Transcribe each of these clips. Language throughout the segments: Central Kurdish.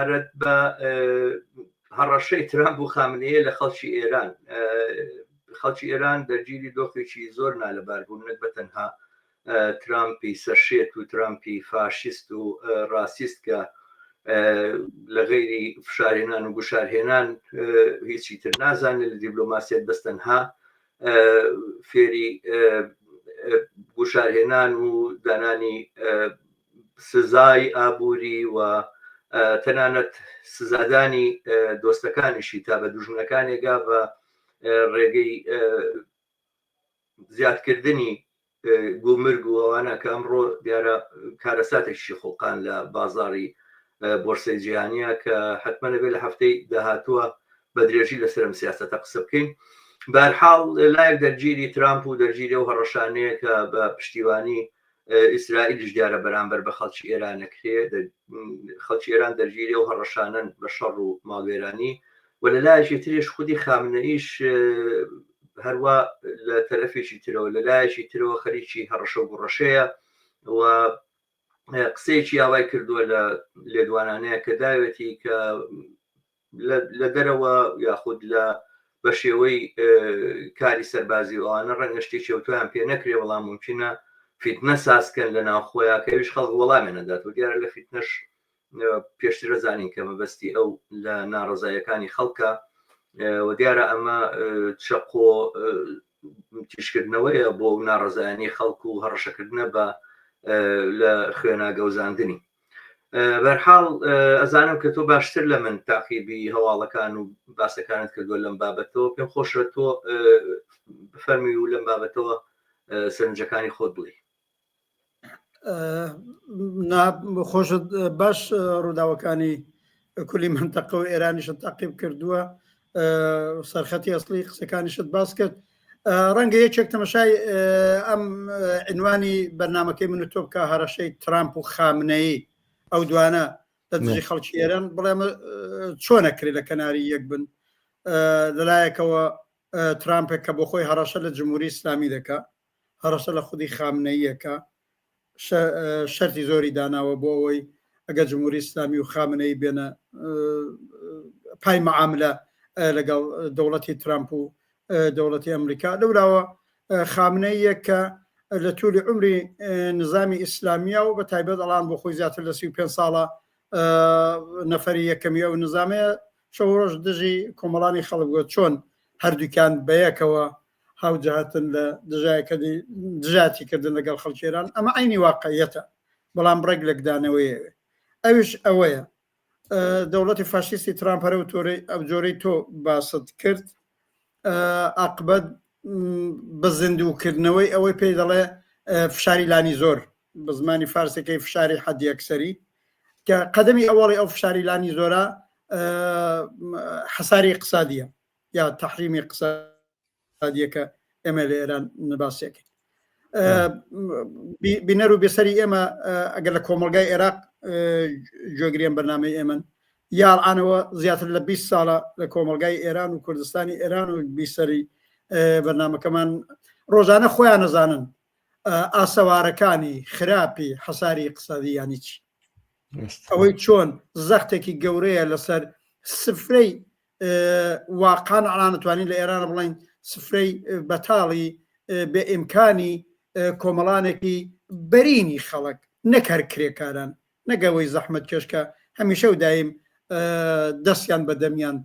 سەبارەت بە هەڕەشەی ترامپ و خامنەیە لە خەڵکی ئێران خەڵکی ئێران دەرگیری دۆخێکی زۆر نالەبار بوون نەک بە تەنها ترامپی سەرشێت و ترامپی فاشیست و ڕاسیست کە لە غیری فشارێنان و گوشارهێنان هیچی تر نازانێت لە دیبلۆماسیت بەستەنها فێری گوشارهێنان و دانانی سزای ئابووری و تەنانەت سزادانی دۆستەکانیشی تا بە دوژمنەکانێ گاڤە ڕێگەی زیادکردنی گومرگ و ئەوانە کە ئەمڕۆ دیارە کارەساتێکی خوڵقان لە بازاری بۆرسەی جیهانیە کە حتممە نەبێت لە هەفتەی داهاتووە بە درێژی لە سرم سیاستە قسە بکەین بارحاڵ لایەک دەرگیری ترامپ و دەرگیری و هەڕەشانەیە کە بە پشتیوانی ئیسرائیلیش دیارە بەرامبەر بە خەڵکی ئێرانەکرێ خەڵکی ئێران دەرگیری و هەڕەشانن بە شەڕ و ماڵوێرانی و لە لایەکی ترێش خودی خامنەئیش هەروە لە تەرەفێکی ترەوە لە لایەکی ترەوە خەریکی هەڕەشە و گوڕەشەیە و قسەیەکی یاوای کردووە لە لێدوانانەیە کە داوێتی کە لە دەرەوە یاخود لە بە شێوەی کاری سەربازی و ئەوانە ڕەنگە شتی چەوتویان پێ نەکرێ بەڵام ممکنە فیتنە سازکەن لە ناو خۆیان کەویش خەڵک وەڵامیان نەدات و دیارە لە فیتنەش پێشترە زانین کە مەبەستی ئەو لە ناڕزایەکانی خەڵکە و دیارە ئەمە چەقۆ تیشکردنەوەیە بۆ ناڕزایانی خەڵکو و هەڕەشەکردنە بە لە خوێناگەوزاندنی بەرحاڵ ئەزانم کە تۆ باشتر لە من تاقیبی هەواڵەکان و باسەکانت کردووە لەم بابەتەوە پێم خۆشە تۆ بفەرمی و لەم بابەتەوە سەرنجەکانی خۆت بڵێ خۆشت باش ڕووداوەکانی کولی منتەقە و ئێرانیشت تاقیب کردووە سەرخەتی ئەسلی قسەکانیشت باس کرد ڕەنگە یەکێک تەمەشای ئەم عنوانی بەرنمەکەی من تۆ بکە هەرەشەی ترامپ و خامنەیی ئەو دوانە لە دژی خەڵکی ئێران بڵێم چۆنە کرێ لە کەناری یەک بن لەلایەکەوە ترامپێک کە بۆ خۆی هەڕەشە لە جمهوری ئسلامی دەکە هەڕەشە لە خودی خامنەییە کە شەرتی زۆری داناوە بۆ ئەوەی ئەگەر جمهوری ئیسلامی و خامنەی بێنە پای معاملە لەگەڵ دەوڵەتی ترامپ و دەوڵەتی ئەمریکا لەوراوە خامنەیە کە لە تولی عمری نظامی ئیسلامیا و بە تایبەت ئەڵان بۆ خۆی زیاتر لە سی پێ ساڵە نەفری یەکەمی ئەو نظامەیە شەڕۆژ دژی کۆمەڵانی خەڵک بووە چۆن هەردووکیان بەیەکەوە هاوجهتن لە دژایەکەدی دژاتی کردن لەگەڵ خەڵکی ئێران ئەمە عینی واقعیەتە بەڵام ڕێک لەکدانەوەیەوێ ئەوش ئەوەیە دەوڵەتی فاشیستی ترامپەرە و تۆرەی ئەو جۆرەی تۆ باست کرد ئاقبەت بە زیندووکردنەوەی ئەوەی پێی دەڵێ فشاری لانی زۆر بە زمانی فارسەکەی فشاری حەدیەکسەری کە قەدەمی ئەوەڵی ئەو فشاری لانی زۆرە حەساری اقتصادیە یا تحریمی قسە دیەکە ئێمە لە ئێران نباسێکن بینەر و بێسەری ئێمە ئەگەر لە کۆمەلگای عێراق جۆگرێن بەنامەی ئێمن یاڕانەوە زیاتر لە 20 ساڵە لە کۆمەلگای ئێران و کوردستانی ئێران و بیسەری بەنامەکەمان ڕۆژانە خۆیان نەزانن ئاسەوارەکانی خراپی حەساری قسەدی ینی چی ئەوەی چۆن زەختێکی گەورەیە لەسەر سفرەی وا قانع ناتوانین لە ئێران بڵێین سفرەی بەتاڵی بێ ئیمکانی کۆمەڵانێکی بەرینی خەڵک نەک هەر کرێکاران نەگەوەی زەحمت کێشکە هەمیشە و دایم دەستیان بە دەمیان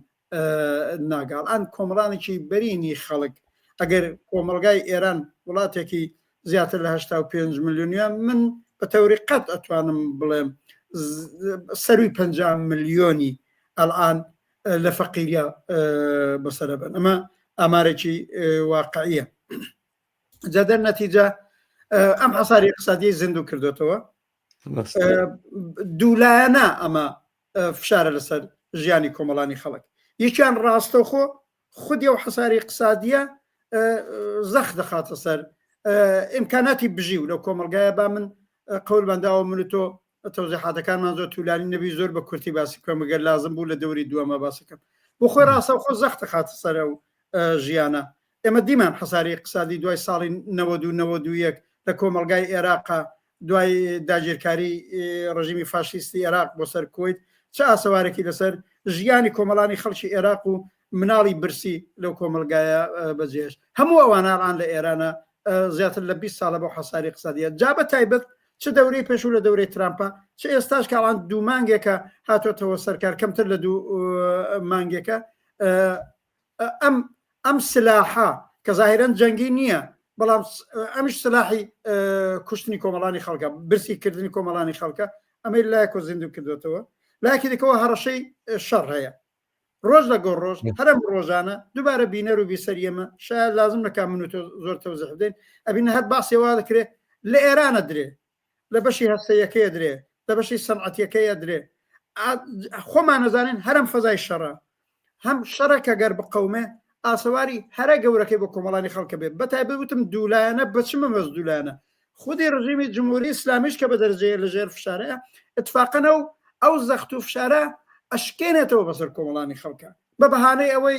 ناگاڵان کۆمەڵانێکی بەرینی خەڵک ئەگەر کۆمەلگای ئێران وڵاتێکی زیاتر لە هەشتا و پێنج ملیۆنە من بە تەوری قەت ئەتوانم بڵێم سەروی پنج ملیۆنی ئەلان لە فەقیریا بەسرە بن ئەمە ئامارێکی واقعە جادە نەتیجە ئەم حساری اقتصادی زیندوو کردوێتەوە دوولایەنە ئەمە فشارە لەسەر ژیانی کۆمەڵانی خەڵک یەکیان ڕاستەخۆ خودی ئەو حەساری اقتصادیە زەخ دەخاتە سەر ئیمکاناتی بژی و لەو کۆمەلگایە با من قەول بەنداوە من تۆ تەوزیحاتەکانمان زۆر تولانی نەبی زۆر بە کورتی باسی بکەم گەر لازم بوو لە دەوری دووەمە باسەکەم بۆ خۆی ڕاستە خۆ زەختە خاتە سەرە و ژیانە ئێمە دیمان حەساری اقتصادی دوای ساڵی 90 لە کۆمەلگای عێراقا دوای داگیرکاری ڕژیمی فاشیستی عێراق بۆ سەر کویت چ ئاسەوارێکی لەسەر ژیانی کۆمەڵانی خەڵکی عێراق و مناڵی برسی لەو کۆمەلگایە بەجێش هەموو ئەوانان لە ئێرانە زیاتر لە 20 ساڵە بۆ حەساری قسەدیە جا بە تایبەت چ دەورەی پێشوو لە دەورەی ترامپە چ ئێستاش کاڵان دوو مانگێکە هاتۆتەوە سەرکار کەمتر لە دوو مانگێکە ئەم ئەم سلاحە کە ظاهرەن جەنگی نییە بەڵام ئەمش سلاحی کوشتنی کۆمەڵانی خەڵکە برسی کردنی کۆمەڵانی خەڵکە ئەمەی لایکۆ زیندو کردوێتەوە لاکی دەکەەوە هەڕەشەی شەڕ هەیە ڕۆژ لە گۆڕ ڕۆژ هەرم ڕۆژانە دووبارە بینەر و بیسەر ئێمە شاید لازم نەکە من و زۆر تەوزح بدەین ئەبین هەر باسێوا دەکرێت لە ئێرانە درێ لە بەشی هەستەیەکەی ئەدرێ لە بەشی سەنعەتیەکەی ئەدرێ خۆمان ئەزانین هەرم فەزای شەڕە هەم شەڕە کە گەر بقەومێ ئاسەواری هەرە گەورەکەی بۆ کۆمەڵانی خەڵکە بێ بەتای بوتم دوولایەنە بچمە مەز دوولایەنە خودی ڕژیمی جمهوری ئسلامیش کە بە دەرجەیە لە ژێر فشارە اتفاقەنە و ئەو زەخت و فشارە ئەشکێنێتەوە بەسەر کۆمەڵانی خەڵکە بە بەهانەی ئەوەی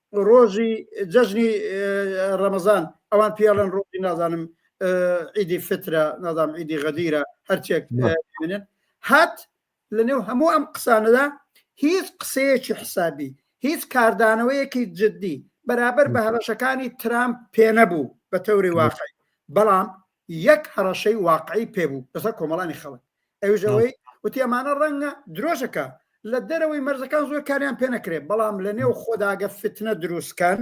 ڕۆژی جەژنی ڕەمەزان ئەوان پیاڵن ڕۆژی نازانم ئیدی فترە نازام ئیدی غەدیرە هەرچێک منن هات لە نێو هەموو ئەم قسانەدا هیچ قسەیەکی حسابی هیچ کاردانەوەیەکی جددی بەرابەر بە هەرەشەکانی ترامپ پێنەبوو بە تەوری واقعی بەڵام یەک هەڕەشەی واقعی پێ بوو لەسەر کۆمەڵانی خەڵک ئەویش ئەوەی وتی ئەمانە ڕەنگە درۆژەکە لە دەرەوەی مەرزەکان زۆر کاریان پێ نەکرێت بەڵام لە نێو خۆداگە فتنە دروستکەن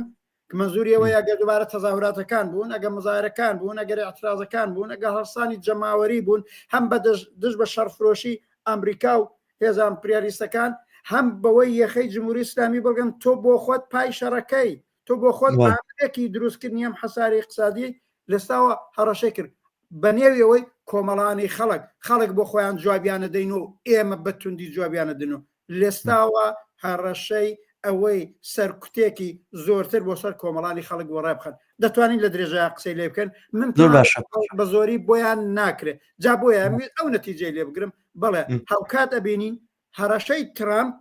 منزوریەوە یاگە دوبارە تەزاهوراتەکان بوون ئەگە مزارەکان بوون ئەگەر اعترازەکان بوون ئەگە هەڵسانی جەماوەری بوون هەم بە دژ بە شەرفرۆشی ئەمریکا و هێزان پریاریستەکان هەم بەوەی یەخەی جمهوری ئسلامی بڵگەن تۆ بۆ خۆت پای شەڕەکەی تۆ بۆ خۆت ئامرێکی دروستکردنی ئەم حەساری اقتصادی لەستاوە هەڕەشەی کرد بە نێویەوەی کۆمەڵانی خەڵک خەڵک بۆ خۆیان جوابیانە دەین و ئێمە بە توندی جوابیانە دن و لەستاوە هەڕەشەی ئەوەی سەرکوتێکی زۆرتر بۆ سەر کۆمەڵانی خەڵک بۆ ڕێبخن دەتوانین لە درێژە قسەی لێ بکەن من بە زۆری بۆیان ناکرێت جا بۆیان ئەو نەتیجەی لێ بگرم بڵێ هاوکات ئەبینین هەڕەشەی ترامپ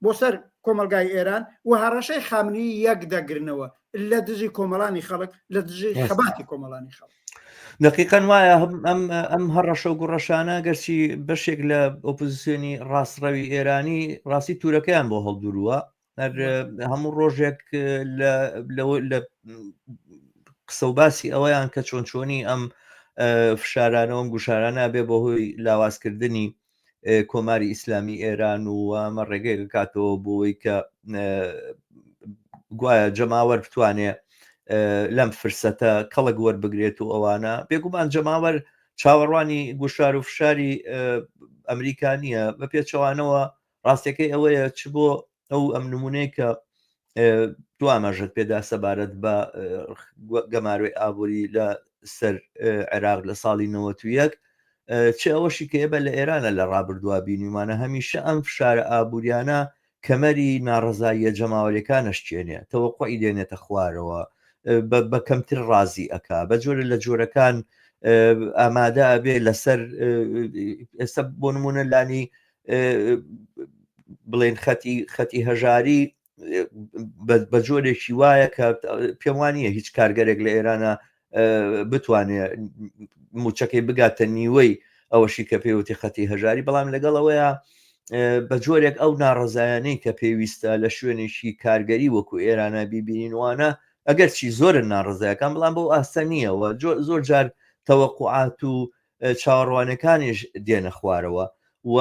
بۆ سەر کۆمەڵگای ئێران و هەڕەشەی خامنەیی یەک دەگرنەوە لە دژی کۆمەڵانی خەڵک لە دژی خەباتی کۆمەڵانی خەڵک دقیقەن وایە ئەم ئەم هەڕەشە و گوڕەشانە گەرچی بەشێک لە ئۆپۆزیسیۆنی ڕاستڕەوی ئێرانی ڕاستی تورەکەیان بۆ هەڵدورووە هەموو ڕۆژێک لە قسە و باسی ئەوەیان کە چۆن چۆنی ئەم فشارانەوەم گوشارانە بێ بە هۆی لاوازکردنی کۆماری ئیسلامی ئێران و ئەمە ڕێگەی بکاتەوە بۆی کە گوایە جەماوەر بتوانێ لەم فرسەتە کەڵک وەربگرێت و ئەوانە بێگومان جەماوەر چاوەڕوانی گوشار و فشاری ئەمریکا نییە بە پێچەوانەوە ڕاستەکەی ئەوەیە چ بۆ ئەو ئەم نمونەیە کە دو ئاماژەت پێدا سەبارەت بە گەمارۆی ئابووری لە سەر عێراق لە ساڵی 91 چ ئەوەشی کە بە لە ئێرانە لە ڕابردووە بینیمانە هەمیشە ئەم فشارە ئابوووریانە کەمەری ناڕزاییە جەماوەریەکانشتێنێ تەوەقعی دێنێتە خوارەوە بە کەمتر ڕازی ئەک بە جۆرە لە جۆرەکان ئامادە ئەبێ لەسەر ئێستا بۆ نمونە لانی بڵێن خەتی خەتی هەژاری بە جۆرێکی وایە کە پێم وانە هیچ کارگەرێک لە ئێرانە بتوانێت موچەکەی بگاتە نیوەی ئەوەشی کە پێوتی خەتی هەژاری بەڵام لەگەڵەوەیە بە جۆرێک ئەو ناڕزایانەی کە پێویستە لە شوێنێکی کارگەری وەکو ئێرانە بیبینینوانە ئەگەر چی زۆرن ناڕزایەکان بڵام بۆ ئاستە نییەوە زۆر جار تەوەقعات و چاوەڕوانەکانیش دێنە خوارەوە و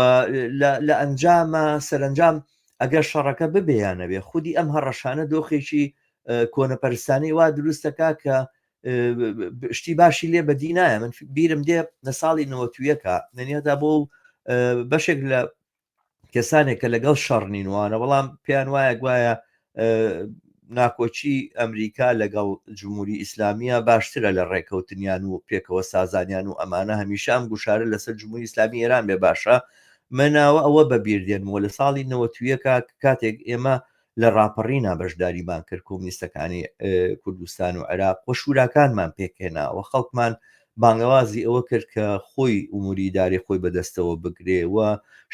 لە ئەنجامە سەرنجام ئەگەر شەڕەکە ببیانەوێ خودی ئەم هەڕەشانە دۆخێکی کۆنەپەرستانی وا دروستەکە کە شتی باشی لێ بەدی نایە من بیرم دێ لە ساڵی نەوەتویەکە نەنیەدا بۆ بەشێک لە کەسانێک کە لەگەڵ شەڕ نینوانە بەڵام پێیان وایە گوایە ناکۆچی ئەمریکا لەگەڵ جمهوری ئیسلامیە باشترە لە ڕێکەوتنیان و پێکەوە سازانیان و ئەمانە هەمیشە ئەم گوشارە لەسەر جمهوری ئیسلامی ئێران بێ باشە مناوە ئەوە بەبیردێنەوە لە ساڵی نەوەتویەکە کاتێک ئێمە لە ڕاپەڕینا بەشداریمان کرد کۆمنیستەکانی کوردستان و عێراق و شوراکانمان پێکهێنا و خەڵکمان بانگەوازی ئەوە کرد کە خۆی ئوموری دارێ خۆی بەدەستەوە بگرێ و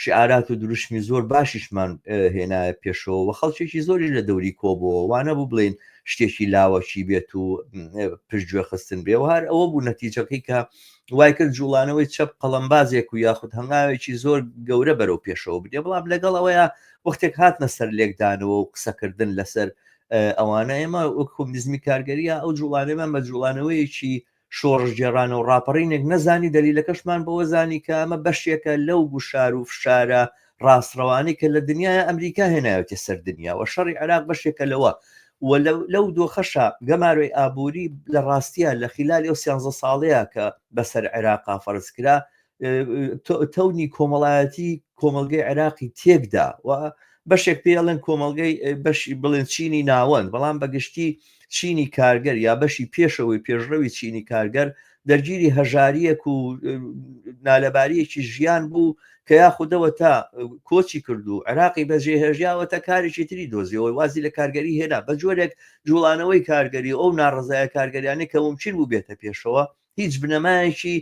شعارات و دروشمی زۆر باشیشمان هێنایە پێشەوە و خەڵکێکی زۆری لە دەوری کۆبەوە وانە بوو بڵین شتێکی لاوەکی بێت و پشتگوێ خستن بێ و هەر ئەوە بوو نەتیجەکەی کە وای کرد جوڵانەوەی چەپ قەڵمبازێک و یاخود هەنگاوێکی زۆر گەورە بەرەو پێشەوە بدێ بڵام لەگەڵ ئەوەیە وەختێک هاتنە سەر لێکدانەوە و قسەکردن لەسەر ئەوانە ئێمە وەک کۆمیزمی کارگەریە ئەو جوڵانێمان بە جوڵانەوەیەکی شۆڕژگێڕانە و ڕاپەڕینێک نەزانی دەلیلەکەشمان بەوە زانی کە ئەمە بەشێکە لەو گوشار و فشارە ڕاستڕەوانی کە لە دنیای ئەمریکا هێنایەتی سەر دنیا و شەڕی عراق بەشێکە لەوە لەو دۆخەشە گەمارۆی ئابووری لە ڕاستیە لە خلالی ئەو سیانزە ساڵەیە کە بەسەر عێراقا فەرز کرا تەونی کۆمەڵایەتی کۆمەلگەی عێراقی تێکدا و بەشێک پێڵێن کۆمەلگەی بەشی بڵێن چینی ناوەند بەڵام بەگشتی چینی کارگەر یا بەشی پێشەوەی پێشڕەوی چینی کارگەر دەرگیری هەژاریەک و نالەباریەکی ژیان بوو کە یاخودەوە تا کۆچی کردو عراقی بەجێ هێژیاوە تا کارێکی تری دۆزیەوەی وازی لە کارگەری هێنا بە جۆرێک جوڵانەوەی کارگەری ئەو ناڕزایە کارگەریانی کە ممکن بوو بێتە پێشەوە هیچ بنەمایەکی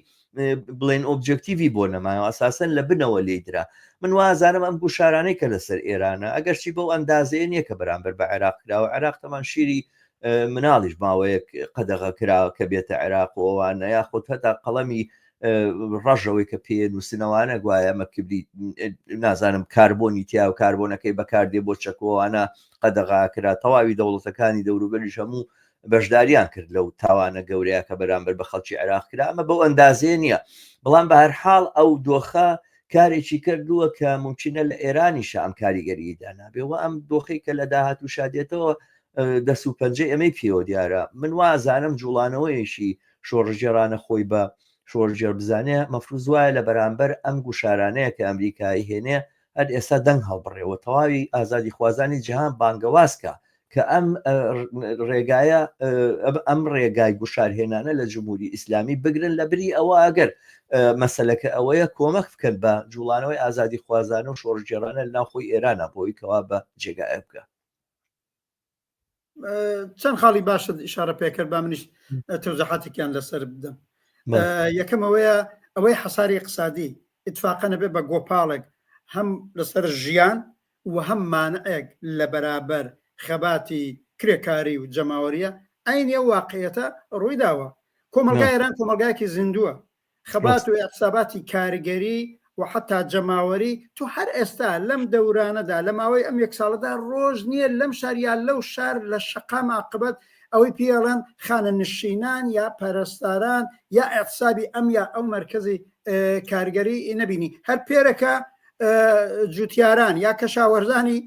بڵێن ئۆبجکتیوی بۆ نەمایەوە ئەساسەن لە بنەوە لی درا من وازانم ئەم گوشارانەی کە لەسەر ئێرانە ئەگەرچی بەو ئەندازەیە نییە کە بەرامبەر بە عێراق کراوە عێراق تەمان شیری مناڵیش ماوەیەک قەدەغە کراوە کە بێتە عێراق و ئەوانە یاخود هەتا قەڵەمی ڕژەوەی کە پێ نووسنەوانە گوایە ئەمە کبری نازانم کاربۆنی تیا و کاربۆنەکەی بەکاردێ بۆ چەکۆوانە قەدەغاکرا تەواوی دەوڵەتەکانی دەوروبەریش هەموو بەشداریان کرد لەو تاوانە گەورەیە کە بەرامبەر بە خەڵکی عێراق کرا ئەمە بەو ئەندازەیە نییە بەڵام بە هەرحاڵ ئەو دۆخە کارێکی کردووە کە ممکنە لە ئێرانی شام کاریگەری دانابێ و ئەم دۆخی کە لە داهات و شادێتەوە دەست و پەنجەی ئەمەی پێوە دیارە من وازانم جوڵانەوەیەکی شۆڕژێرانە خۆی بە شۆرجێر بزانێ مەفروز وایە لە بەرامبەر ئەم گوشارانەیە کە ئەمریکای هێنێ هەر ئێستا دەنگ هەڵبڕێەوە تەواوی ئازادی خوازانی جیهان بانگەوازکە کە ئەم ڕێگایە ئەم ڕێگای گوشارهێنانە لە جمهوری ئیسلامی بگرن لە بری ئەوە ئەگەر مەسلەکە ئەوەیە کۆمەک بکەن بە جوڵانەوەی ئازادی خوازانە و شۆڕژێرانە ناوخۆی ئێرانە بۆی کەوا بە جێگایە بکە چەند خاڵی باشت ئشارە پێکرد با منیش تەوزەحاتێکیان لەسەر بدەم یەکەمەوەیە ئەوەی حەساری اقتصادی اتفاقە نەبێ بە گۆپاڵێک هەم لەسەر ژیان و هەم مانعێک لە بەرابەر خەباتی کرێکاری و جەماوەریە، عەینی ئەو واقعیەتە ڕوویداوە. کۆمەڵگای ئێران کۆمەڵگایەکی زیندووە. خەبات و ئیعتساباتی کارگەری و حەتا جەماوەری، تۆ هەر ئێستا لەم دەورانەدا، لە ماوەی ئەم یەک ساڵەدا ڕۆژ نیە لەم شار یا لەو شار لە شەقام ئاقبەت ئەوەی پێی ئەڵێن خانەنشینان یا پەرستاران یا ئیعتسابی ئەم یا ئەو مەرکەزی کارگەری نەبینی هەر پێرەکە جوتیاران یا کەشاوەرزانی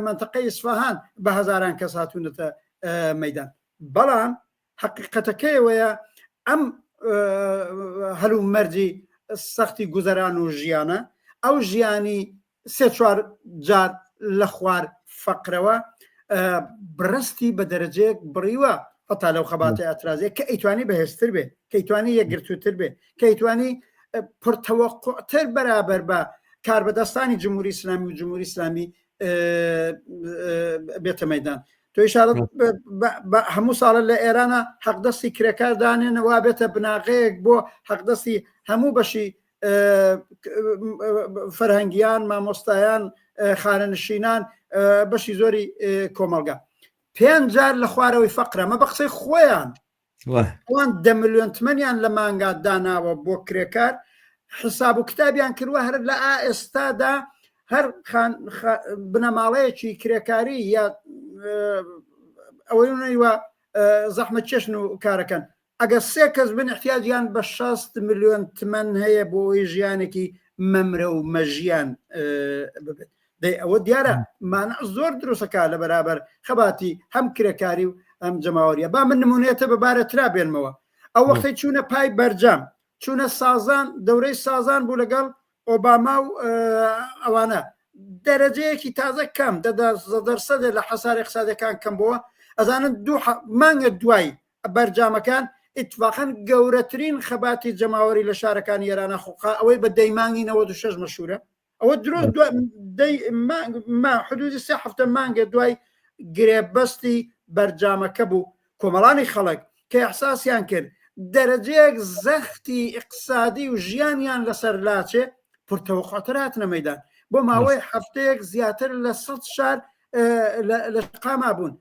منتەقە ئیسفاهان بە هەزاران کەس هاتوونەتە مەدان بەڵام حقیقەتەکەیەوەیە ئەم هەلو مەرجی سەختی گوزەران و ژیانە ئەو ژیانی سێ چوار جار لە خوار فەقرەوە بڕستی بە دەرەجەیەک بڕیوە هەتا لەو خەباتە ئەترازێک کە ئەیتوانی بەهێزتر بێ کەیتوانی یەکگرتووتر بێ کەیتوانی پرتەوەقتر بەرابەر بە کاربەدەستانی جمهوری ئسلامی و جمهوری ئسلامی بێتە مەدان تۆ شارەت هەموو ساڵە لە ئێرانە حەقدەستی کرێکار دانێنەوە بێتە بناغەیەک بۆ حەقدەستی هەموو بەشی فەرهەنگیان، مامۆستایان، خانەنشینان، بەشی زۆری کۆمەڵگا پێنج جار لە خوارەوەی فەقرەمە بە قسەی خۆیان ئەوان دە میلیۆن تمەنیان لە مانگا داناوە بۆ کرێکار حساب و کتابیان کردوە هەر لە ئێستادا هەر بنەماڵەیەکی کرێکاری یا ئەوەی وە زەحمە چێشن و کارەکەن ئەگەر سێ کەس بن احتیاجیان بە شەست ملیۆن تمەن هەیە بۆ ئەوەی ژیانێکی مەمرە و مەژیان ببێت دەی ئەوە دیارە مانع زۆر دروستەکە لە بەرابەر خەباتی هەم کرێکاری و ئەم جەماوەریە با من نمونێتە بەبارە ترا بێنمەوە ئەو وەختی چوونە پای بەرجام چوونە سازان دەورەی سازان بوو لەگەڵ ئۆباما و ئەوانە دەرەجەیەکی تازە کەم دەدەسەدە لە حەساری قسادەکان کەم بووە ئەزانن دوو مانگە دوای بەرجامەکان ئیتفاقەن گەورەترین خەباتی جەماوەری لە شارەکانی ئێرانە خوقا ئەوەی بە دەی مانگی 96 مەشورە ئەوە درۆ حدودی سێ هەفتە مانگە دوای گرێبەستی بەرجامەکە بوو کۆمەڵانی خەڵک کە احساسیان کرد دەرەجەیەک زەختی اقتصادی و ژیانیان لەسەر لاچێ پرتەوەخاتراتنە مەدان بۆ ماوەی هەفتەیەک زیاتر لە سە شار لە قاما بوون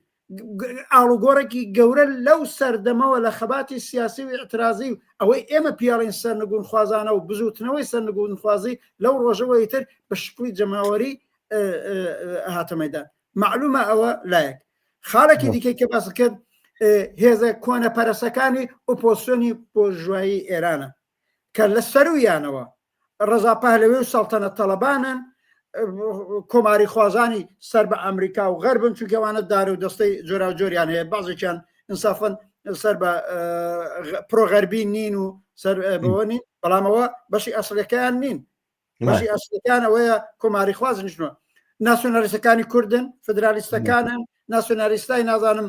ئاڵوگۆڕێکی گەورە لەو سەردەمەوە لە خەباتی سیاسی و ئەترازی و ئەوەی ئێمە پیاڵین سەر نگون خوازانە و بزوتنەوەی سەر نگون خوازی لەو ڕۆژەوەی تر بە شکلی جەماوەری هاتەمەدان معلومە ئەوە لایەک خاڵێکی دیکەی کە باس کرد هێزە کۆنە پەرسەکانی ئۆپۆسیۆنی بۆژوایی ئێرانە کە لە سەروویانەوە ڕەزا پەهلەوی و سەڵتەنە تەڵەبانن کۆماری خوازانی سەر بە ئەمریکا و غەربن چونکەوانە دار و دەستەی جۆرا و جۆریان هەیە بازێکیان انسافن سەر بە پرۆغەربی نین و سەر بەوە نین بەڵامەوە بەشی ئەسلەکەیان نین بەشی ئەسلەکان ئەوەیە کۆماری خواز نیشتوە ناسیۆنالیستەکانی کوردن فدرالیستەکانن ناسیۆنالیستای نازانم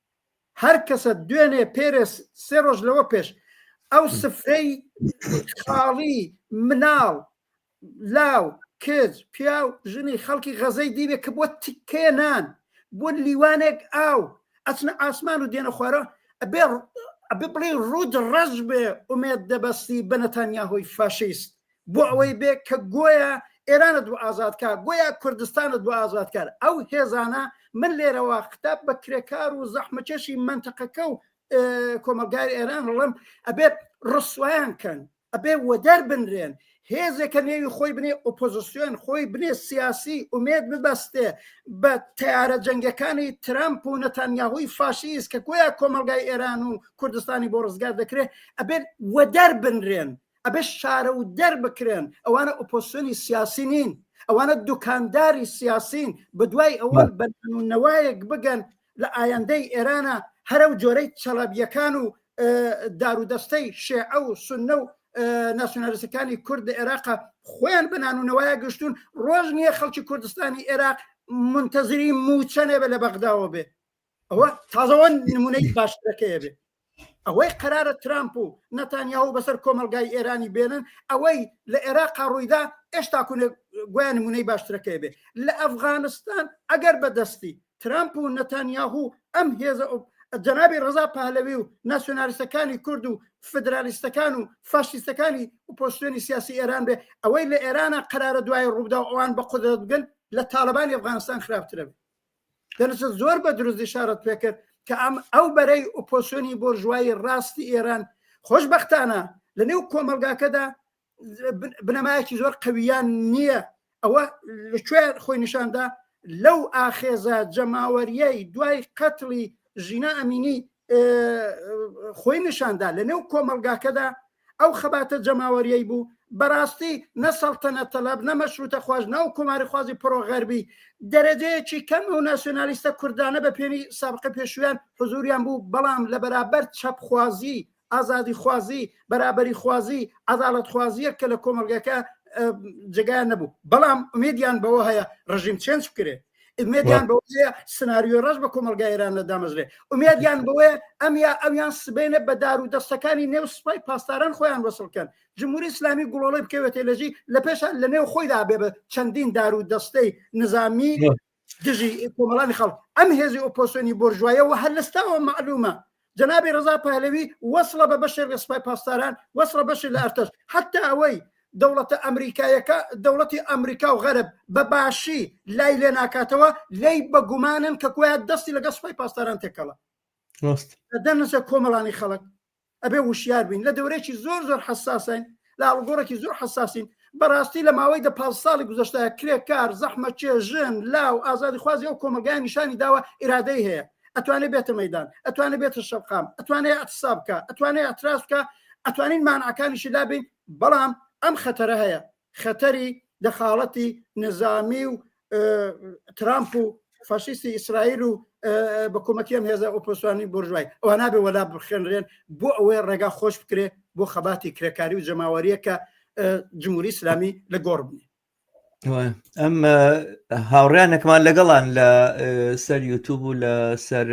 هەر کەسە دوێنێ پێرێس سێ ڕۆژ لەوە پێش ئەو سفرەی خاڵی مناڵ لاو کچ پیا و ژنی خەڵکی غەزەی دیبێ کە بۆ تکێنان بۆ لیوانێک ئاو ئەچنە ئاسمان و دێنە خوارە ئەبێ ئەبێ بڵێ ڕوود ڕەش بێ ئومێد دەبەستی بەنەتانیا هۆی فاشیست بۆ ئەوەی بێ کە گۆیا ئێرانە دوو ئازادکە گۆیا کوردستانە دوو ئازادکار ئەو هێزانە من لێرەوە خراپ بە کرێکار و زەحمەکێشی منتەقەکە و کۆمەلگای ئێران هەڵم ئەبێت ڕسویان کەن ئەبێ وەدەر بنرێن هێزێکە نێوی خۆی بنێ ئۆپۆزیسیۆن خۆی بنێ سیاسی ئومێد ببەستێ بە تیارە جەنگەکانی ترامپ و نەتانیاهوی فاشیس کە گویا کۆمەلگای ئێران و کوردستانی بۆ ڕزگار دەکرێت ئەبێت وەدەر بنرێن ئەبێ شارەودەر بکرێن ئەوانە ئۆپۆسیۆنی سیاسی نین ئەوانە دوکانداری سیاسین بە دوای ئەوە بەنەوایەک بگەن لە ئایندەی ئێرانە هەرە و جۆرەی چەڵەبیەکان و دارودەستەی شێعە و سنە و ناسیۆنالیستەکانی کورد لە عێراقا خۆیان بەنان و نەوایە گەشتون ڕۆژ نییە خەڵکی کوردستانی عێراق منتەزری موچەنێ بە لە بەغداوە بێ ئەوە تازەوە نمونەی باشترەکەیە بێت ئەوەی قرارە ترامپ و نەتانیاو بەسەر کۆمەلگای ئێرانی بێنن ئەوەی لە عێراقا ڕوویدا ئێشتا کوێ گویان نمونەی باشترەکەی بێ لە ئەفغانستان ئەگەر بەدەستی ترامپ و نەتانیاهو ئەم هێزە جەنابی ڕزا پالەوی و ناسیۆنالیستەکانی کورد و فدرالیستەکان و فاشیستەکانی و پۆستێنی سیاسی ئێران بێ ئەوەی لە ئێرانە قرارە دوای ڕوودا ئەوان بە قدرت بگەن لە تاالبانی ئەفغانستان خراپترە دەرچە زۆر بە دروست دیشارەت پێکرد کە ئەم ئەو بەرەی ئۆپۆسیۆنی بۆرژوایی ڕاستی ئێران خۆشببختانە لە نێو کۆمەلگاکەدا بنەمایەکی زۆر قویان نییە ئەوە لەکوێ خۆی نیشاندا لەو ئاخێزە جەماوەریەی دوای قەتڵی ژینا ئەمینی خۆی نیشاندا لە نێو کۆمەلگاکەدا ئەو خەباتە جەماوەریەی بوو بەڕاستی نەسەڵتەنە تەلاب نەمە شوتە خواش ناو کوماری خوازی پرۆغەربی دەرەجەیەکی کەم و ناسیۆنالیستە کوردانە بە پێنی سابقە پێشویان حزوریان بوو بەڵام لە بەرابەر چەپخوازی ئازادی خوازی بەرابەری خوازی عداڵت خوازیە کە لە کۆمەلگەکە جگایان نەبوو بەڵام ئومێدیان بەوە هەیە ڕژیم چێنج بکرێت ئومێدیان بەوەیە سناریۆی ڕەش بە کۆمەلگا ئێرانە دامەزرێ ئومێدیان بەوەیە ئەم یا ئەویان سبێنە بە دار و دەستەکانی نێو سپای پاسداران خۆیان وەسڵکەن جمهوری ئسلامی گوڵۆڵی بکەوێتێ لەژی لە پێشان لە نێو خۆیدا بێ بە چەندین دار و دەستەی نظامی دژی کۆمەڵانی خەڵک ئەم هێزی ئۆپۆسۆنی بۆرژوایەوە هەر لەستاوە معلومە جەنابی ڕزا پەهلەوی وەسڵە بە بەشێک لە سپای پاسداران وەسڵە بەشێک لە ئەرتەش حتا ئەوەی دەوڵەتە ئەمریکایەکە دەوڵەتی ئەمریکا و غەرب بە باشی لای لێ ناکاتەوە لێی بە گومانن کە کویان دەستی لەگە سپای پاسداران تێکەڵە دەنسە کۆمەڵانی خەڵک ئەبێ وشیار بین لە دەورێکی زۆر زۆر حساسین لە ئاڵگۆڕێکی زۆر حساسین بەڕاستی لە ماوەی دە پ ساڵی گوزشتە کرێکار زەحمە چێژن لاو ئازادی خوازی ئەو کۆمەلگای نیشانی داوە ئرادەی هەیە ئەتوانێت بێتە مەدان ئەتوانێت بێتە شەقام ئەتوانێت ئەتسا بکە ئەتوانێت ئەتراس بکە ئەتوانین مانعەکانیشی لابین بەڵام ئەم خەتەرە هەیە خەتەری دەخاڵەتی نظامی و ترامپ و فاشیستی ئیسرائیل و بە کۆمەکیان هێزە ئۆپۆسانی بۆرژای ئەوە نابێ وەلا بخێنرێن بۆ ئەوەی ڕێگا خۆش بکرێ بۆ خەباتی کرێکاری و جەماوەریەکە جمهوری ئسلامی لە گۆڕ بنێ ئەم هاوڕیانەکمان لەگەڵان لە سەر یوتوب و لە سەر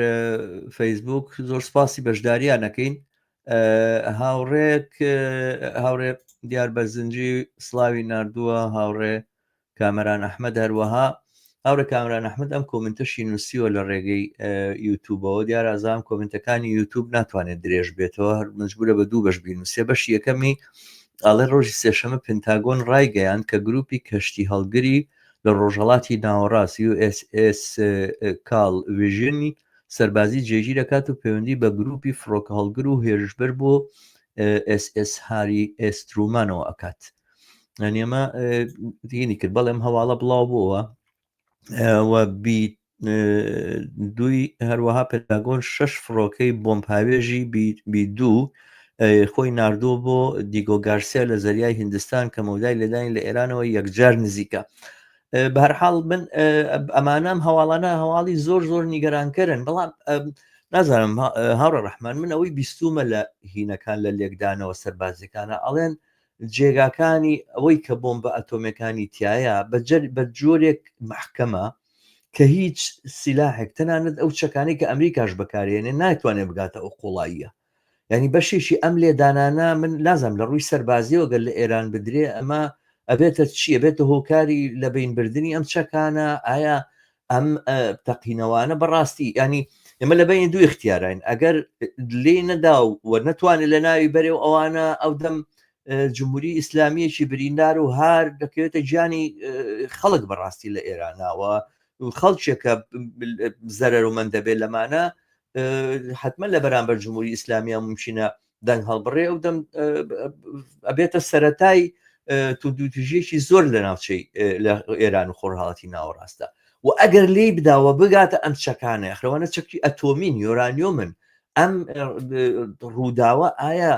فەیسبوک زۆر سپاسی بەشداریانەکەین هاوڕێک هاوڕێ دیار بەرزنجی سلاوی نردووە هاوڕێ کامەران ئەحمەد هەروەها هاوڕێ کامران ئەحمد ئەم کۆمنتەشی نووسیوە لە ڕێگەی یوتوبەوە دیار ئازام کۆمنتەکانی یوتوب ناتوانێت درێژ بێتەوە هەر مجبورە بە دوو بەش بینوسێ بەش یەکەمی ئاڵێ ڕۆژی سێشەمە پنتاگۆن ڕایگەیان کە گروپی کەشتی هەڵگری لە ڕۆژهڵاتی ناوەڕاست USS کاڵ وژنی سەربازی جێگی دەکات و پەیوەندی بە گروپی فڕۆکە هەڵگر و هێرشبەر بۆ SS هاری ئێسترومانەوە ئەکات ئەنیێمە دینی کرد بەڵێم هەواڵە بڵاو بووە بیت دوی هەروەها پێتاگۆن شش فڕۆکەی بۆمپاوێژی بی دوو خۆی نردووە بۆ دیگۆ گارسیا لە زەریای هندستان کە مەودای لێدانی لە ئێرانەوە یەکجار نزیکە بەرحاڵ من ئەمانام هەواڵانە هەواڵی زۆر زۆر نیگەرانکەرن بەڵام نازانم هاڕە ڕحمان من ئەوەی بیستومە لە هینەکان لە لێکدانەوە سەربازەکانە ئەڵێن جێگاکانی ئەوەی کە بۆمبە ئەتۆمیەکانی تیایە بە جۆرێک مەحکەمە کە هیچ سیلاحێک تەنانەت ئەو چەکانی کە ئەمریکاش بەکارێنێ ناتوانێت بگاتە ئەو قوڵاییە ینی بەشێکی ئەم لێدانانە من لازم لە ڕووی سەربازیەوە گەل لە ئێران بدرێ ئەمە ئەبێتە چیە بێتە هۆکاری لە بینبردنی ئەم چەکانە ئایا ئەم تەقینەوانە بەڕاستی ینی ئێمە لە بینی دوو اختیاراین ئەگەر لێ نەدا و وە نەتوانێت لە ناوی بەرێ و ئەوانە ئەو دەم جمهوری ئیسلامیەکی بریندار و هار دەکەوێتە گیانی خەڵک بەڕاستی لە ئێرانناوە خەڵکێکە زەرەر و من دەبێت لەمانە حتممە لە بەرامبەر جمهوری ئیسلامیا ممچینە دەنگ هەڵبڕێ ئەو دەم ئەبێتە سەتای توندوتژێکی زۆر لە ناوچەی لە ئێران و خۆرهاڵاتی ناوەڕاستە و ئەگەر لی بداوە بگاتە ئەم چەکانە یخرەوانە چەکی ئەتۆمین یۆرانیۆ من ئەم ڕووداوە ئایا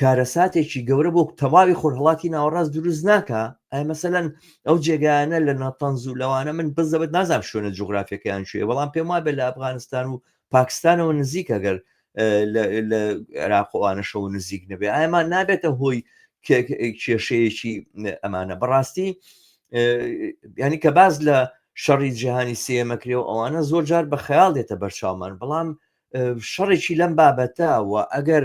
کارەساتێکی گەورە بۆ تەواوی خۆرهڵاتی ناوەڕاست دروست ناکە ئای مەسەەن ئەو جێگایانە لە ناتەنز و لەوانە من بزەبت نازانام شوێنە جوگرافیەکەیان شوێ بەڵام پێم وابێت لە ئەفغانستان و پاکستانەوە نزیکە گەر لە عێراقوانەشەوە نزیک نەبێ ئایمان نابێتە هۆی کێشەیەکی ئەمانە بەڕاستی ینی کە باز لە شەڕی جیهانی سێمەکرێ و ئەوانە زۆر جار بە خەیاڵ دێتە بەرچاومان بەڵام شەڕێکی لەم بابەتە و ئەگەر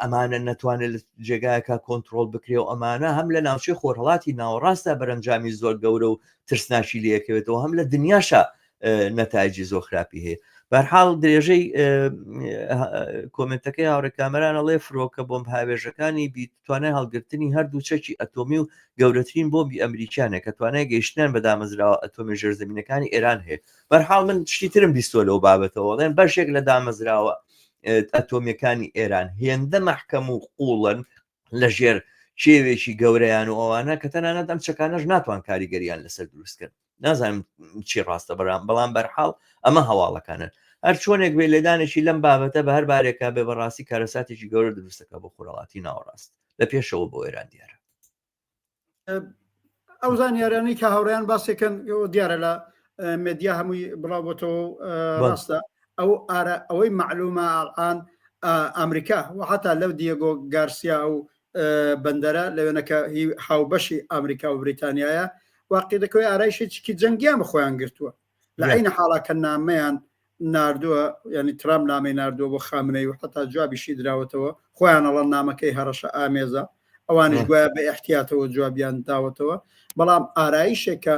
ئەمانە نەتوانێت لە جێگایەکە کۆنتترۆل بکرێ و ئەمانە هەم لە ناوچەی خۆرهڵاتی ناوەڕاستە بەرەنجامی زۆر گەورە و ترسناکی لەکەوێتەوە هەم لە دنیاشە نەتایجی زۆر خراپی هەیە بەرحاڵ درێژەی کۆمنتەکەی هاوڕێ کامەرانە ڵێ فرۆکە بۆم هاوێژەکانی بیت توانای هەڵگرتنی هەردوو چەکی ئەتۆمی و گەورەترین بۆمبی ئەمریکانە کە توانای گەیشتیان بە دامەزراوە ئەتۆمی ژێرزمینەکانی ئێران هەیە بەرحاڵ من شتی ترم بیستۆ لەو بابەتەوە ڵێن بەشێک لە دامەزراوە ئەتۆمیەکانی ئێران هێندە مەحکەم و قوڵن لە ژێر کێوێکی گەورەیان و ئەوانە کە تەنانەت ئەم چەکانەش ناتوان کاریگەریان لەسەر دروستکرد نازانم چی ڕاستە بەرام بەڵام بەرحاڵ ئەمە هەواڵەکانن هەر چۆنێک بێ لێدانێکی لەم بابەتە بە هەر بارێکا بێ بەڕاستی کارەساتێکی گەورە دروستەکە بۆ خۆراڵاتی ناوەڕاست لە پێشەوە بۆ ئێران دیارە ئەو زانیارانەی کە هاوڕیان باسێکن دیارە لە مدیا هەمووی بڵاوبتەوە ڕاستە ئەو ئارە ئەوەی معلومە ئاان ئەمریکا و حتا لەو دیێگۆ گارسیا و بەندەرە لەوێنەکە هی هاوبەشی ئەمریکا و بریتانیایە واقعی دەکەوەی ئارایشی چکی جەنگیان بە خۆیان گرتووە لە عینە حاڵا کە نامەیان نردووە ینی ترام نامی نردووە بۆ خامنەی و حتا جوابیشی دراوەتەوە خۆیانەڵە نامەکەی هەڕەشە ئامێزە ئەوانش گوایە بە احتیاتەوە جوابیان داوەتەوە بەڵام ئارایشێکە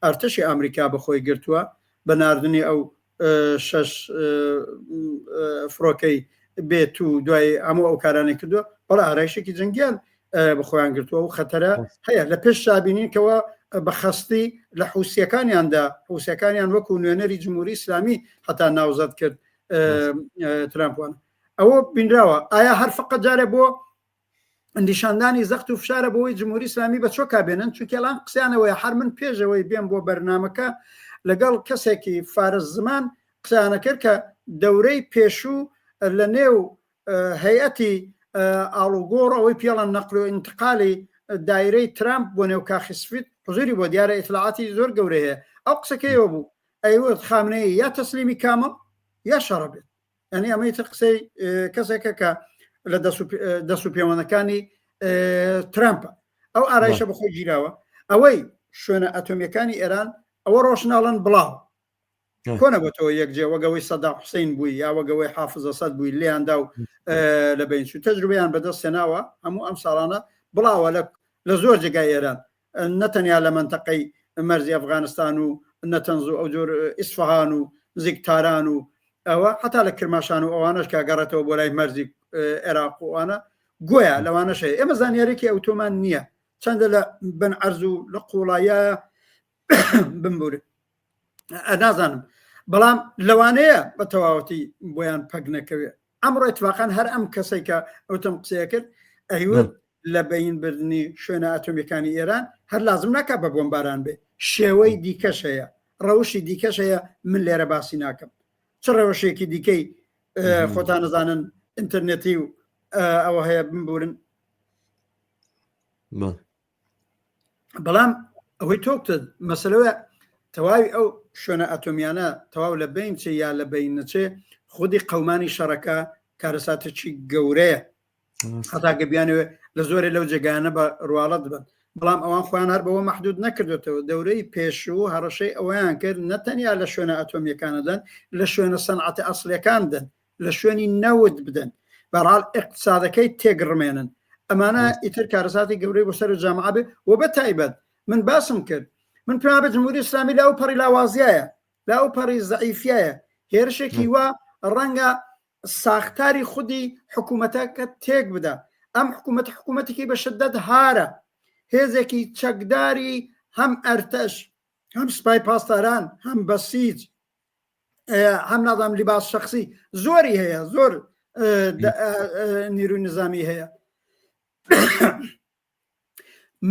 ئەرتەشی ئەمریکا بەخۆی گرتووە بە نردنی ئەو شش فڕۆکەی بێت و دوای هەموو ئەو کارانەی کردووە بەڵ ئارایشێکی جنگیان بە خۆیان گرتووە و خەتەرە هەیە لە پێش شابینینکەوە بە خەستی لە حوسەکانیاندا حوسەکانیان وەکو نوێنەری جمهوری ئسلامی هەتا ناوزەت کرد ترامپوان ئەوە بینراوە ئایا هەر فقە جارێ بۆ نیشاندانی زەخت و فشارە بۆی جمهوری ئسلامی بە چۆکا بێنن چونکەلان قسیانەوەی هەر من پێشەوەی بێن بۆ بەرنمەکە لەگەڵ کەسێکی فارس زمان قسانەکرد کە دەورەی پێشوو لە نێو هەیئەتی ئاڵوگۆڕ ئەوەی پیاڵە نەقل و ئینتقالی دایرەی ترامپ بۆ نێو کاخی سفید حزوری بۆ دیارە ئیتلاعاتی زۆر گەورە هەیە ئەو قسەکەیەوە بوو ئەیوت خامنەیە یا تەسلیمی کامە یا شەڕە بێت ئەنی ئەمەی تر قسەی کەسێکە کە لە دەست و پێوانەکانی ترامپە ئەو ئارایشە بەخۆی گیراوە ئەوەی شوێنە ئەتۆمیەکانی ئێران ئەوە ڕۆشنناڵەن بڵاو کۆنە بۆتەوە یەک جێ وەگەوەی سەدا حوسین بووی یا وەگەوەی حافزە سەد بووی لێیاندا و لە بینچ و تەجروبیان بەدەست سێناوە هەموو ئەم ساڵانە بڵاوە لە لە زۆر جێگای ئێران نەتەنیا لە منتەقەی مەرزی ئەفغانستان و نەتەنز و ئەو جۆر ئیسفهان و نزیک تاران و ئەوە حتا لە کرماشان و ئەوانش کە گەڕێتەوە بۆ لای مەرزی عێراق وانە گویا لەوانەش هەیە ئێمە زانیارێکی ئەوتۆمان نییە چەندە لە بن ئەرز و لە قوڵایە بمبورن نازانم بەڵام لەوانەیە بە تەواوەتی بۆیان پەک نەکەوێت ئەمڕۆ اتفاقان هەر ئەم کەسێک کە ئەوتم قسەیە کرد ئەیوت لە بەین بردننی شوێنە ئەتۆمیەکانی ئێران هەر لازم ناکە بە بۆمباران بێ شێوەی دیکەش هەیە ڕەوشی دیکەش هەیە من لێرە باسی ناکەم چ ڕەوشێکی دیکەی خۆتان نەزانن ئینتەرنێتی و ئەوە هەیە بمبورن بەڵام ئەوەی تۆکتە مەسلەوە تەواوی ئەو شوێنە ئەتۆمیانە تەواو لە بین چێ یا لە بین نەچێ خودی قەمانی شەڕەکە کارەساتێکی گەورەیە هەتاگە بیانەوە لە زۆرە لەو جێگانە بە ڕواڵەت بن بەڵام ئەوان خۆیان هەر بەوە محدود نەکردێتەوە دەورەی پێشوو هەڕەشەی ئەویان کرد نەتەنیا لە شوێنە ئەتۆمیەکانەدەن لە شوێنە سەنعاتە ئەسلەکاندن لە شوێنی نەوت بدەن بەڕال اقتصادەکەی تێگڕمێنن ئەمانە ئیتر کارەساتی گەورەی بۆ سەر جامعە بێ و بە تایبەت من باسم کرد من پێم بە جمهوری ئسلامی لە ئەو پەڕی لاوازیایە لە ئەو پەڕی زعیفایە هێرشێکی وا ڕەنگە ساختاری خودی حکوومەتەکە تێک بدا ئەم حکوومەت حکوومەتێکی بە شدت هارە هێزێکی چەکداری هەم ئەرتەش هەم سپای پاسداران هەم بەسیج هەم نازام لیباس شخصی زۆری هەیە زۆر نیروی نظامی هەیە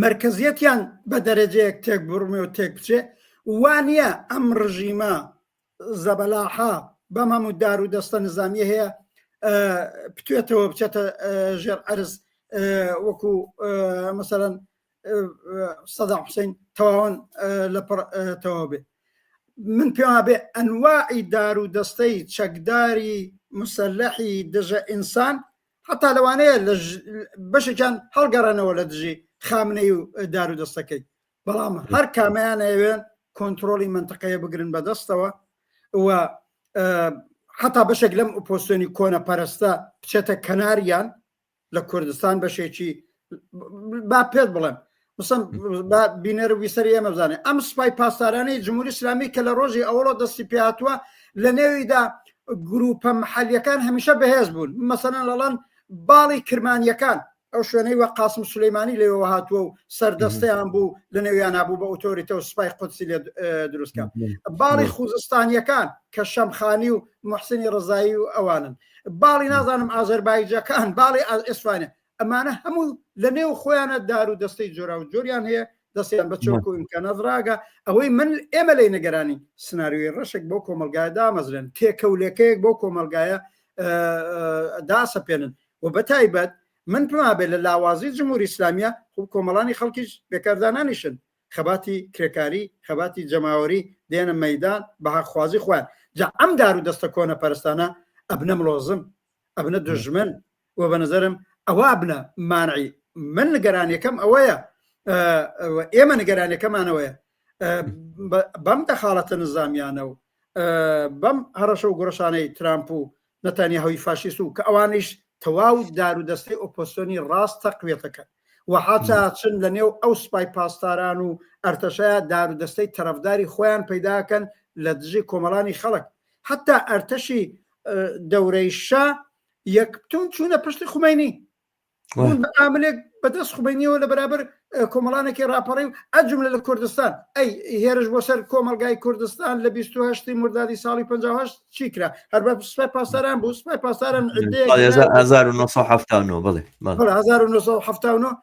مرکزیەتیان بە دەرەجەیەک تێک بڕمێ و تێک بچێ وانە ئەم ڕژیمە زەبەلاحا بەم هەموو دار و دەستە نظامیە هەیە پتێتەوە بچێتە ژێر ئەرز وەکو مەسەرەن سەدا حوسین تەواوان لە پڕ تەواو بێ من پێوا بێ ئەنواعی دار و دەستەی چەکداری مسلحی دژە ئینسان حتا لەوانەیە لە بەشێکیان هەڵگەڕێنەوە لە دژی خامنەی و دار و دەستەکەی بەڵام هەر کامیان ئەوێن کۆنتترۆلی منتەقەیە بگرن بەدەستەوە و حتا بەشێک لەم ئۆپۆسیۆنی کۆنە پەرستە بچێتە کەناریان لە کوردستان بەشێکی با پێت بڵێم مسم بینەر و ویسەری ئێمە بزانێت ئەم سپای پاسدارانی جمهوری اسلامی کە لە ڕۆژی ئەوڵۆ دەستی پێهاتوە لە نێویدا گروپە محلیەکان هەمیشە بەهێز بوون مەسەەن لەڵەن باڵی کرمانیەکان ئەو شوێنەی وە قاسم سلەیمانی لێەوە هاتووە و سەردەستیان بوو لە نێویان نبوو بە ئۆتۆریتە و سپای قودسی لێ دروستکە باڵی خوزستانیەکان کە شەمخانی و محسنی ڕزایی و ئەوانن باڵی نازانم ئازەربایجەکان باڵی ئێسفانە ئەمانە هەموو لە نێو خۆیانە دار و دەستەی جۆرا و جۆریان هەیە دەستیان بە چۆک و ئیمکانە ڕاگە ئەوەی من ئێمە لی نگەرانی سناریوی ڕەشێک بۆ کۆمەلگای دامەزرێن تێکەولەکەیەک بۆ کۆمەلگایە داسەپێنن و بە تایبەت من پمابێت لە لاوازی جمهوری ئسلامیە خوب کۆمەڵانی خەڵکیش بێکاردانانیشن خەباتی کرێکاری خەباتی جەماوەری دێنە مەیدان بە هاخوازی خۆیان جا ئەم دار و دەستە کۆنە پەرستانە ئەبنە ملۆزم ئەبنە دژمن و بە نظرم ئەوە ئەبنە مانعی من نگەرانەکەم ئەوەیە ئێمە نگەرانەکەمانەوەیە بەم دەخاڵەتە نزامیانە و بەم هەڕەشە و گوڕشانەی ترامپ و نەتانیاهۆی فاشیست و کە ئەوانیش تەواو دار و دەستەی ئۆپۆسیۆنی ڕاست تەقویە دەکەن و حاتا ئەچن لە نێو ئەو سپای پاسداران و ئەرتەشەیا دار و دەستەی تەرەفداری خۆیان پەیدا کەن لە دژی کۆمەڵانی خەڵک حەتا ئەرتەشی دەورەی شا یەکتون چوونە پشتی خومەینی ئاملێک بەدەست خوبینیەوە لە بەرابەر کۆمەڵانێکی راپەڕی و ئەجملە لە کوردستان ئەی هێرش بۆ سەر کۆمەلگای کوردستان لە 28 مردادی ساڵی 1950 چیکرا هەر بە سوپای پاسداران بوو سوپای پاسداران 1970 بڵێ 1970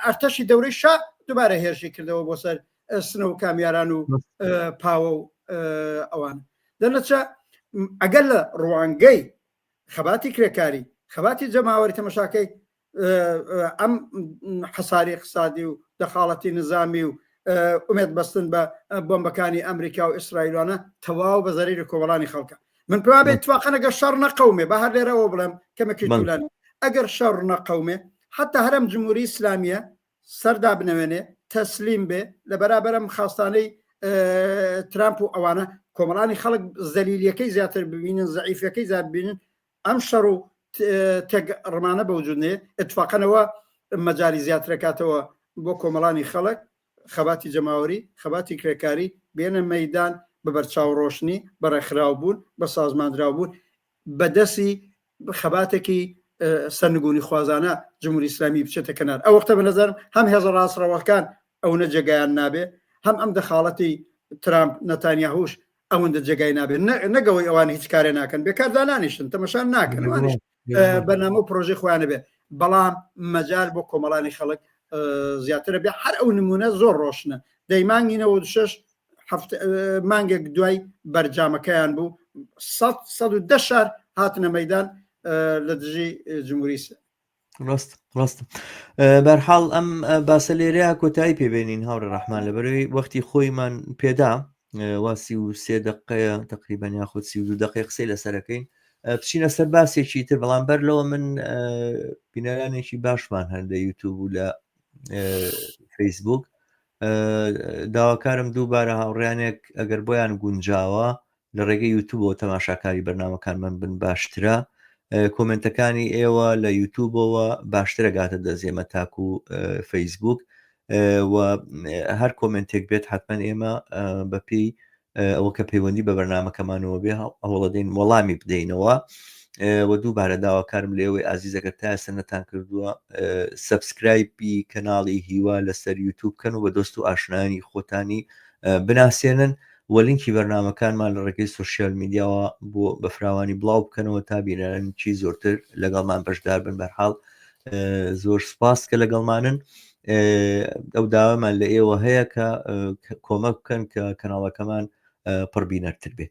ئەرتەشی دەورەی شا دوبارە هێرشی کردەوە بۆ سەر سنە و کامیاران و پاوە و ئەوان دەنەچە ئەگەر لە ڕوانگەی خەباتی کرێکاری خەباتی جەماوەری تەمەشاکەی ئەم حەساری اقتصادی و دەخاڵەتی نظامی و ئومێت بەستن بە بۆمبەکانی ئەمریکا و ئیسرائیلوانە تەواو بە زەریری کۆمەڵانی خەڵکە من پێوا بێت توواقەنەگە شەڕ نەقەومێ بە هەر لێرەوە بڵێم کەمەکی جولان ئەگەر شەڕ نەقەومێ حتا هەرم جمهوری ئسلامیە سەر دابنەوێنێ تەسلیم بێ لە بەرابەر ئەم خاستانەی ترامپ و ئەوانە کۆمەڵانی خەڵک زەلیلیەکەی زیاتر ببینن زعیفەکەی زیاد ببینن ئەم شەڕ و تێک ڕمانە بە وجودنێ اتفاقەنەوە مەجاری زیاترەکاتەوە بۆ کۆمەڵانی خەڵک خەباتی جەماوەری خەباتی کرێکاری بێنە مەدان بە بەرچاو ڕۆشنی بەڕێکخراو بوون بە سازماندراو بوون بە دەسی خەباتێکی سەرنگونی خوازانە جمهوری ئیسلامی بچێتە کەنار ئەو وەختە بە نەزەرم هەم هێزە ڕاستڕەوەکان ئەوەنە جێگایان نابێ هەم ئەم دەخاڵەتی ترامپ نەتانیاهوش ئەوەندە جێگای نابێت نەگەوەی ئەوان هیچ کارێ ناکەن بێکاردانانیشن تەمەشان ناکەن بەنامە و پرۆژی خۆیانە بێ بەڵام مەجار بۆ کۆمەڵانی خەڵک زیاترە بێ هەر ئەو نمونە زۆر ڕۆشنە دەیمانگینەوە شش مانگێک دوای بەرجامەکەیان بوو دە شار هاتنە مەدان لە دژی جمهوری ڕاست ڕاست بەرحاڵ ئەم باسە لێرەیە کۆتایی پێبێنین هاوڕێ ڕحمان لە بەرەوەی وەختی خۆیمان پێدا واسی و سێ دقەیە تقریبان یاخود سی دو دقی قسەی لەسەرەکەین بچینە سەر باسێکی تر بەڵام بەر لەوە من بینەرانێکی باشمان هەندە یوتوب و لە فەیسبوک داواکارم دووبارە هاوڕیانێک ئەگەر بۆیان گونجاوە لە ڕێگەی یوتوبەوە تەماشاکاری بەرنمەکانمان بن باشترە کۆمنتەکانی ئێوە لە یوتوبەوە باشترە گاتە دەزێمە تاکو و فەیسبوک و هەر کۆمنتێک بێت حتمما ئێمە بەپی ئەوە کە پەیوەندی بە بەرنامەکەمانەوە بێ هەوڵەدەین وەڵامی بدەینەوە و دووبارە داواکارم لێوەی ئازیزەکە تا ئێستا نەتان کردووە سبسکرایبی کەناڵی هیوا لەسەر یوتوب کەن و بە دۆست و ئاشنانی خۆتانی بناسێنن و لینکی بەرنمەکانمان لە ڕێگەی سوسیال میدیاوە بۆ بەفراوانی بڵاو بکەنەوە تا بینەرانکی زۆرتر لەگەڵمان بەشدار بن بەرحاڵ زۆر سپاس کە لەگەڵمانن ئەو داوامان لە ئێوە هەیە کە کۆمەک بکەن کە کەناڵەکەمان پڕبینەرتر بێ